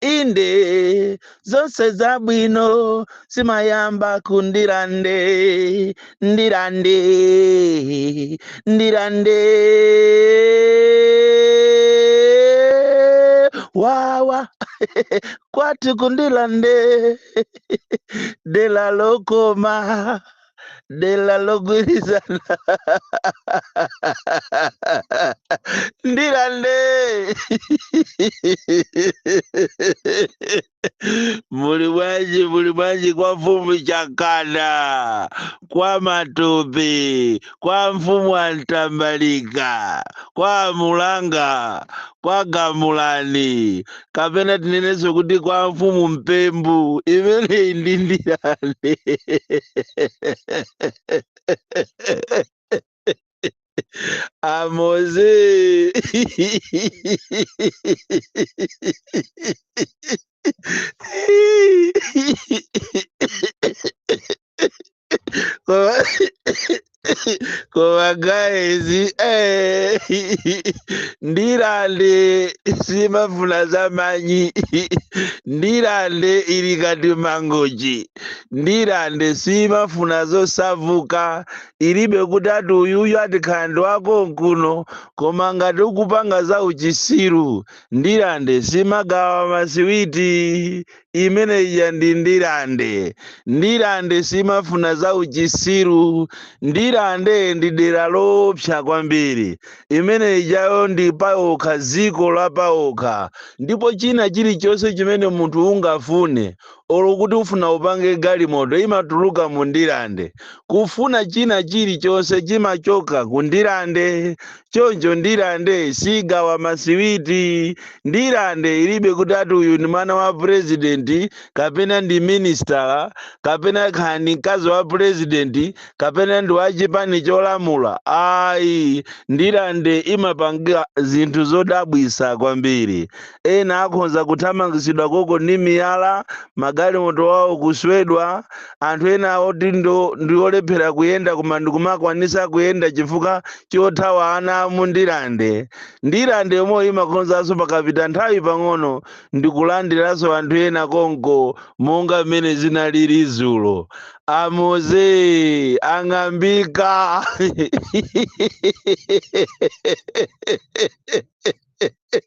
inde zonse zabwino zimayamba ku Ndirande Ndirande Ndirande wawa kwathu ku Ndirande dela lokoma dela logwirizana Ndirande muli bwanji muli bwanji kwa mfumu Chakana kwa Matope kwa mfumu a Mtambalika kwa Mulanga kwa Gamulani kapena tinenenso kuti kwa mfumu Mpembu imeneyi ndi Ndirande a Moze Koma- koma guys eh, Ndirande simafuna za manyi Ndirande ili kati Mangochi Ndirande simafuna zosapuka ilibe kuti ati uyuyu ati khandi- khandi wako mkuno koma ngati ukupanga za uchitsiru Ndirande simagawa masiwiti imene ija ndi Ndirande Ndirande simafuna za uchitsiru Ndirande ndi dera loopsa kwambiri imene ijayo ndi paokha dziko la paokha ndipo china chilichonse chimene munthu ungafune olo kuti ufuna upange galimoto imatuluka mu Ndirande kufuna china chilichonse chimachoka ku Ndirande choncho Ndirande sigawa masiwiti Ndirande ilibe kuti ati uyu ndi mwana wa purezidenti kapena ndi minisitala kapena kaya ndi mkazi wa purezidenti kapena ndi wa chipani cholamula ayi Ndirande imapanga zinthu zodabwisa kwambiri Ena akhonza kuthamangitsidwa konko ndi miyala, magalimoto awo kuswedwa, anthu ena oti ndi olephera kuyenda koma ndikumakwanisa kuyenda chifukwa chothawa ana a mu Ndirande. Ndirande yomweyo imakhonzanso pakapita nthawi pang'ono ndikulandiranso anthu ena konko monga m'mene zinaliri dzulo. A Moze ang'ambika!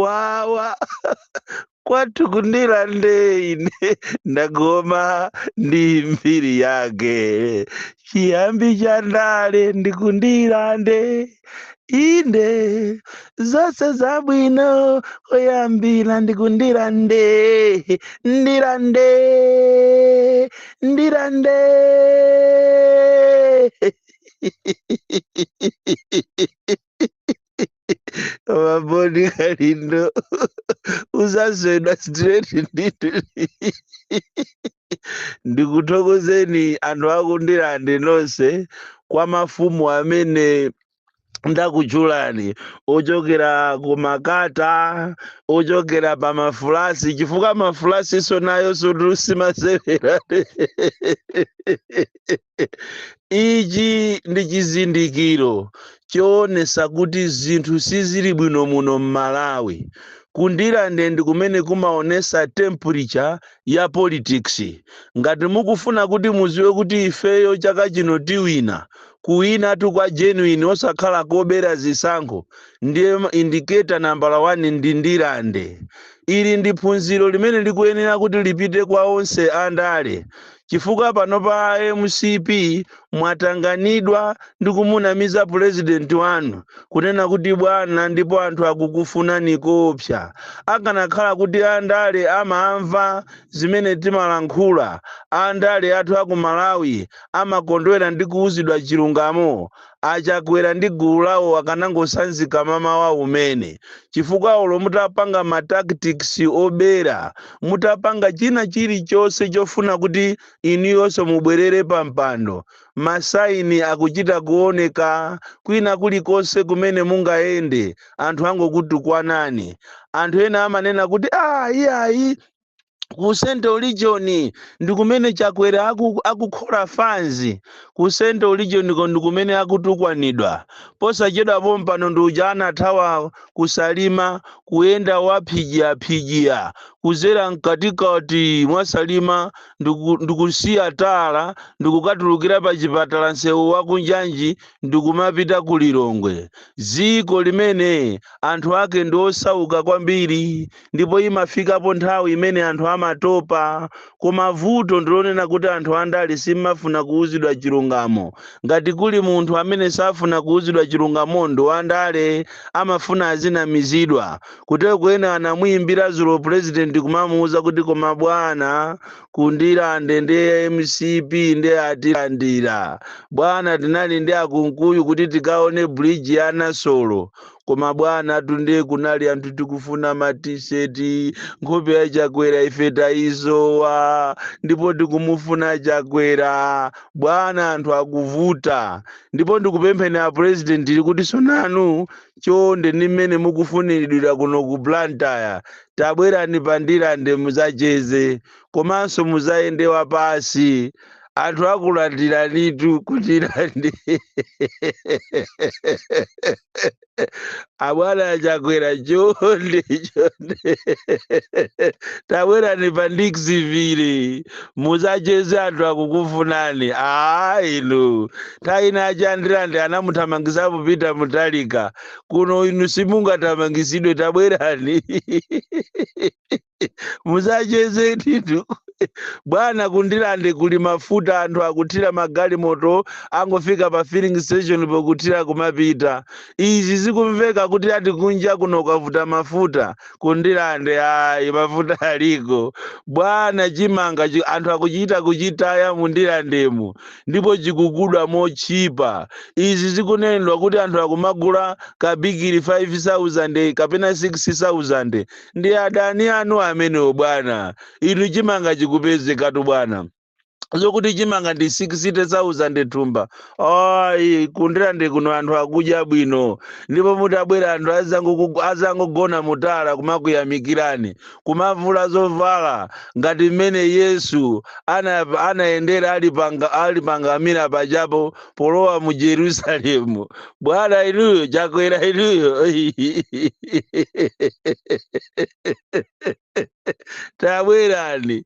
wawa kwathu ku Ndirande ine ndagoma ndi mbiri yake chiyambi cha ndale ndi ku Ndirande inde zonse zabwino zoyambira ndi ku Ndirande Ndirande Ndirande Ma Bon Kalindo uzaswedwa straight ndithu ndikuthokozeni anthu aku Ndirande nonse kwa mafumu amene ndakutchulani ochokera ku makata ochokera pa mafulasi chifukwa mafulasiso nayo sikuti imasewera Ichi ndi chizindikiro choonesa kuti zinthu sizili bwino muno m'Malawi. Ku Ndirande ndi kumene kumaonesa temperature ya politics. Ngati mukufuna kuti muziwe kuti ifeyo chaka chino tiwina, kuwinatu kwa genuine osakhala kobera zisankho, ndiye indicator nambala wani ndi Ndirande. Ili ndi phunziro limene likuyenera kuti lipite kwa onse andale. chifukwa panopa a mcp mwatanganidwa ndi kumunamiza pulezidenti wanu kunena kuti bwana ndipo anthu akukufunani kopsa akanakhala kuti andale amamva zimene timalankhula andale athu aku malawi amakondwera ndi kuuzidwa chilungamo a chakwera ndi gulu lawo akanangosanzika mamawa womwe uno chifukwa olo mutapanga ma tactics obera mutapanga china chilichonse chofuna kuti inuyonso mubwerere pa mpando masaini akuchita kuoneka kwina kulikonse kumene mungayende anthu angokutukwanani anthu ena amanena kuti ah iyayi ku central region ndi kumene chakwera akukhola fanzi ku central region ko ndi kumene akutukwanidwa posachedwa pompano ndi uja anathawa kusalima kuyenda waphijiyaphijiya kuzera mkatikati mwasalima ndikusiya tala ndikukatulukira pa chipatala nsewu wakunjanji ndikumapita ku lilongwe dziko limene anthu ake ndi osauka kwambiri ndipo imafikapo nthawi imene anthu amatopa koma vuto ndilonena kuti anthu andale simmafuna kuuzidwa chilungamo ngati kuli munthu amene safuna kuuzidwa chilungamo ndi wandale amafuna azinamizidwa kuteroko ena anamuyimbira zulo president kumamuuza kuti koma bwana ku Ndirande ndi kwa mcp ndi atilandira bwana tinali ndi a Kunkuyu kuti tikaone bridge ya nasolo koma bwana tunde kunali anthu tikufuna ma t-shirt nkhope ya chakwera ife tayisowa ndipo tikumufuna chakwera bwana anthu akuvuta ndipo ndikupempheni a president ili kuti tsonanu chonde ndi mmene mukufuniridwira kuno ku blantyre tabwerani pa ndilande muzacheze komanso muzayendewa pasi anthu akulandiranitu ku ndilande abwana achakwera chonde chonde tabwerani pa ndikusivile muzacheze anthu akukufunani aa inu nthawi ina aku ndirande anamuthamangisapo peter mutharika kuno inu simungathamangisidwe tabwerani muzacheze ndithu bwana kundilande kuli mafuta anthu akuthira magalimoto akungofika pa filling station pokuthira kumapita izi zikumveka kuti ati kunja kuno kwavuta mafuta kundilande ayi mafuta aliko bwana chimanga anthu akuchita kuchitaya mundilandemu ndipo chikugudwa motchipa izi zikunenedwa kuti anthu akumagula kabigiri 5000 kapena 6000 ndi adani anu amenewo bwana inu chimanga chikupezekatu bwana zokuti chimanga ndi 60000 thumba ayi kundilande kuno anthu akudya bwino ndipo mutabwera anthu azangogona mutala kumakuyamikirani kumavula zovala ngati mmene yesu anayendera ali pangamira pajapo polowa mu jerusalemu bwana inuyo chakwera inuyo tabwerani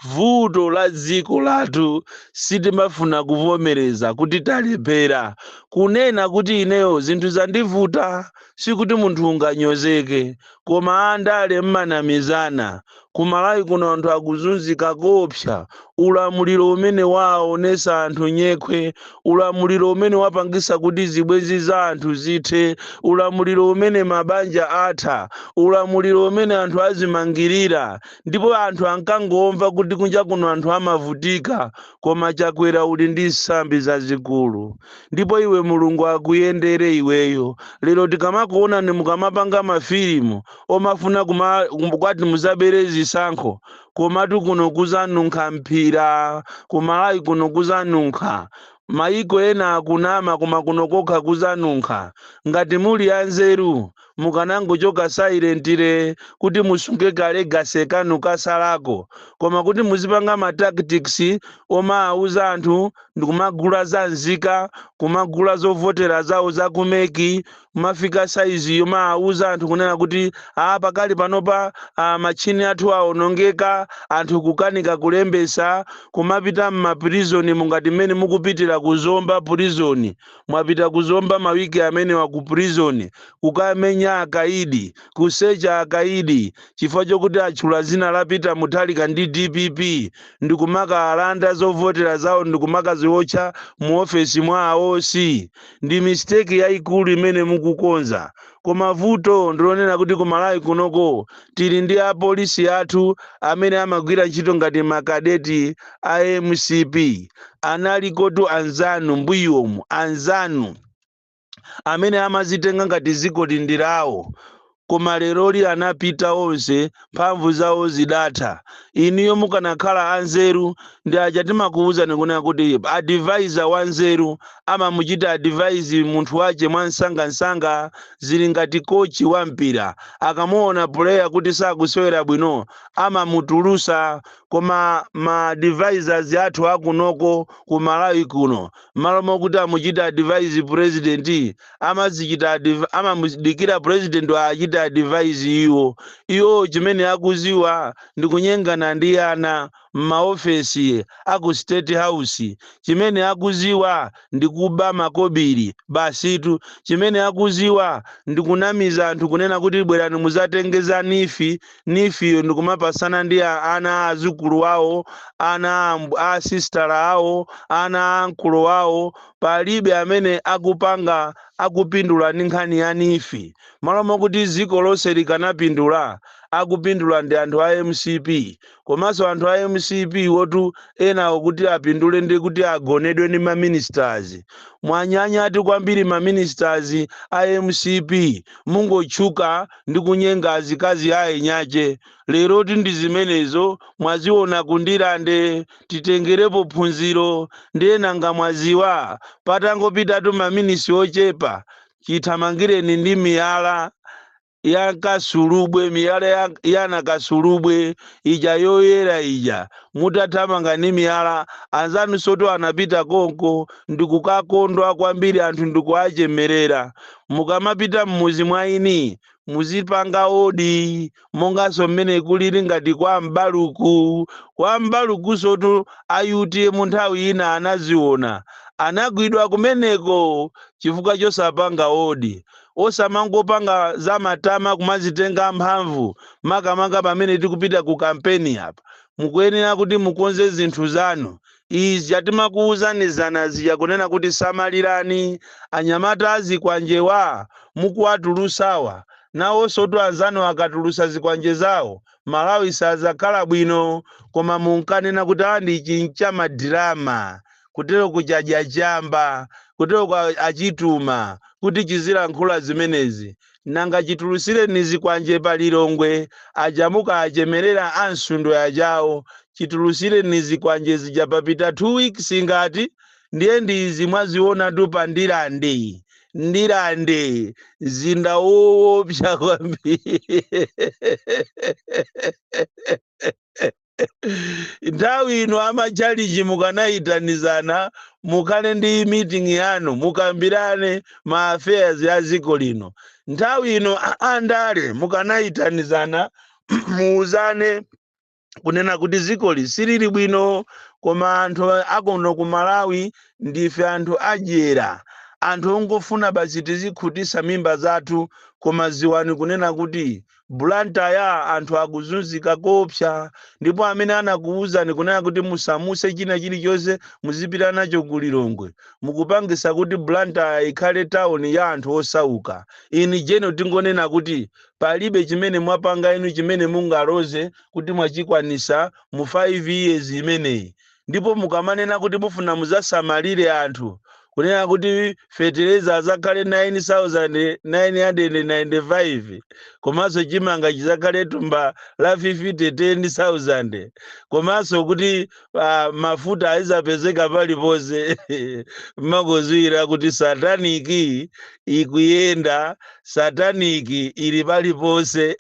vuto la dziko lathu sitimafuna kuvomereza kuti talephera kunena kuti ineyo zinthu zandivuta sikuti munthu unganyozeke koma andale mmanamizana, ku Malawi kuno anthu akuzunzika koopsa, ulamuliro umene waaonesa anthu nyekhwe, ulamuliro umene wapangisa kuti zibwenzi za anthu zithe, ulamuliro umene mabanja atha, ulamuliro umene anthu azimangilira ndipo anthu ankangomva kuti kunja kuno anthu amavutika koma Chakwera uli ndi sambi zazikulu. ndipo iwe mulungu akuyendere iweyo lero tikamakuonani mukamapanga mafilimu omafuna kuti muzabere zisankho komatu kuno kuzanunkha mphira kumalawi kuno kuzanunkha mayiko ena akunama koma kuno kokha kuzanunkha ngati muli anzeru mukanangochoka silently kuti musunge ka legacy kanu kasalako koma kuti muzipanga ma tactics omawuza anthu ndikumagula za nzika kumagula zovotera zawo za ku mec kumafika saizi yomawuza anthu kunena kuti a pakali panopa matchini athu awonongeka anthu kukanika kulembesa kumapita m'mapirizoni mungati mmene mukupitira ku zomba prison mwapita ku zomba mawiki amenewa ku prison kukamenya akaidi kusecha akaidi chifukwa chokuti atchula zina la peter mutharika ndi dpp ndikumakaalanda zovotera zawo ndikumakaziwotcha mu ofesi mwa a oc ndi mistake yayikulu imene mukukonza Koma vuto ndilonena kuti ku Malawi kunoko tili ndi apolisi athu amene amagwira ntchito ngati ma cadet a mcp. Analikotu anzanu mbuyomu anzanu amene amazitenga ngati zikoli ndi lawo koma leroli anapita onse. mphamvu zawo zidatha. Inuyo mukanakhala anzeru ndi aja timakuuzani kunena kuti advisor wanzeru amamuchita advise munthu wache mwansangansanga zili ngati coach wa mpira akamuona player kuti sakusewera bwino amamutulusa koma ma advisors athu akunoko ku Malawi kuno mmalo mokuti amuchite advise president amazichita adv- amamudikira president awachite advise iwo iwo chimene akuziwa ndi kunyengana ndi ana m'maofesi aku state house chimene akuziwa ndi kuba makobiri basitu chimene akuziwa ndi kunamiza anthu kunena kuti bwerani muzatenge za neef neef yo ndi kumapasana ndi a- ana a azukulu awo ana a amb- a sistala awo ana a ankolo awo palibe amene akupanga akupindula ndi nkhani ya neef malo mokuti dziko lonse likanapindula akupindula ndi anthu a mcp komanso anthu a mcp wotu enawo kuti apindule ndi kuti agonedwe ndi ma ministers mwanyanyatu kwambiri ma ministers a mcp mungotchuka ndi kunyenga azikazi a eniache leroti ndi zimenezo mwaziona ku ndirande titengerepo phunziro ndiye nanga mwaziwa patangopitatu maminisi ochepa chithamangireni ndi miyala ya kasulubwe miyala ya, ya nakasulubwe ija yoyera ija mutathamanga ndi miyala anzanusotu anapita konko ndikukakondwa kwambiri anthu ndikuachemerera mukamapita mmuzi mwa eni muzipanga odi monganso mmene kulili ngati kwa m'baluku kwa M'baluku sotu a UTM nthawi ina anaziona anagwidwa kumeneko chifukwa chosapanga odi osamangopanga za matama kumazitenga mphamvu makamaka pamene tikupita ku kampeni apa mukuyenera kuti mukonze zinthu zanu Izi tja timakuuzani zana zija kunena kuti samalirani anyamata a zikwanjewa mukuwatulusawa nawosotu anzanu akatulusa zikwanje zawo Malawi sadzakhala bwino koma munkanena kuti awa ndi ichi ncha ma drama kutero kuja chadya chamba kuteroko achituma kuti chizilankhula zimenezi nanga chitulutsireni zikwanje pa Lilongwe paja munkawachemerera a Msundwe aja awo chitulutsireni zikwanje zija papita 2 weeks ngati ndiye ndi izi mwazionatu pa Ndirande Ndirande mzinda woopsa kwambiri nthawi ino amachalichi mukanayitanizana mukhale ndi meeting yanu mukambirane ma affairs a dziko lino nthawi ino a- andale mukanayitanizana muuzane kunena kuti dzikoli silili bwino koma anthu akuno ku malawi ndife anthu adyera anthu ongofuna basi tizikhutisa mimba zathu koma ziwani kunena kuti Blantyre anthu akuzunzika koopsa ndipo amene anakuwuzani kunena kuti musamuse china chilichonse muzipita nacho ku Lilongwe mukupangisa kuti Blantyre ikhale town ya anthu osauka. In general tingonena kuti palibe chimene mwapanga inu chimene mungaloze kuti mwachikwanisa mu 5 years imeneyi. ndipo mukamanena kuti mufuna muzasamalire anthu kunena kuti fetereza azakhale 9995 komanso chimanga chizakhale tumba la fifite 10000 komanso kuti uh, mafuta azizapezeka paliponse mmakuziwira kuti sataniki ikuyenda sataniki ili paliponse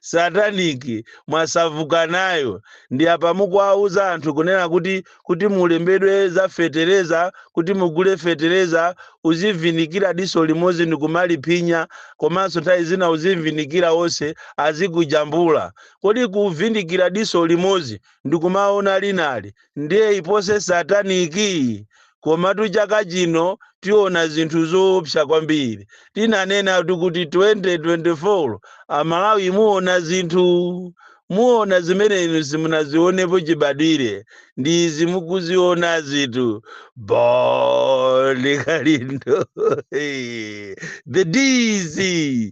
sataniki mwasavuka nayo ndi apa mukuwauza anthu kunena kuti kuti mulembedwe za fetereza kuti mugule fetereza uzivindikira diso limodzi ndikumaliphinya komanso nthawi zina uzivindikira onse azikujambula kodi kuvindikira diso limodzi ndikumaona linali ndiye iposi sataniki Komatu chaka chino tiona zinthu zoopsa kwambiri. Tinanenatu kuti 2024 Amalawi muona zinthu. Muona zimene inu simunazionepo chibadwire. Ndi izi mukuzionazitu. Bon Kalindo. The DC.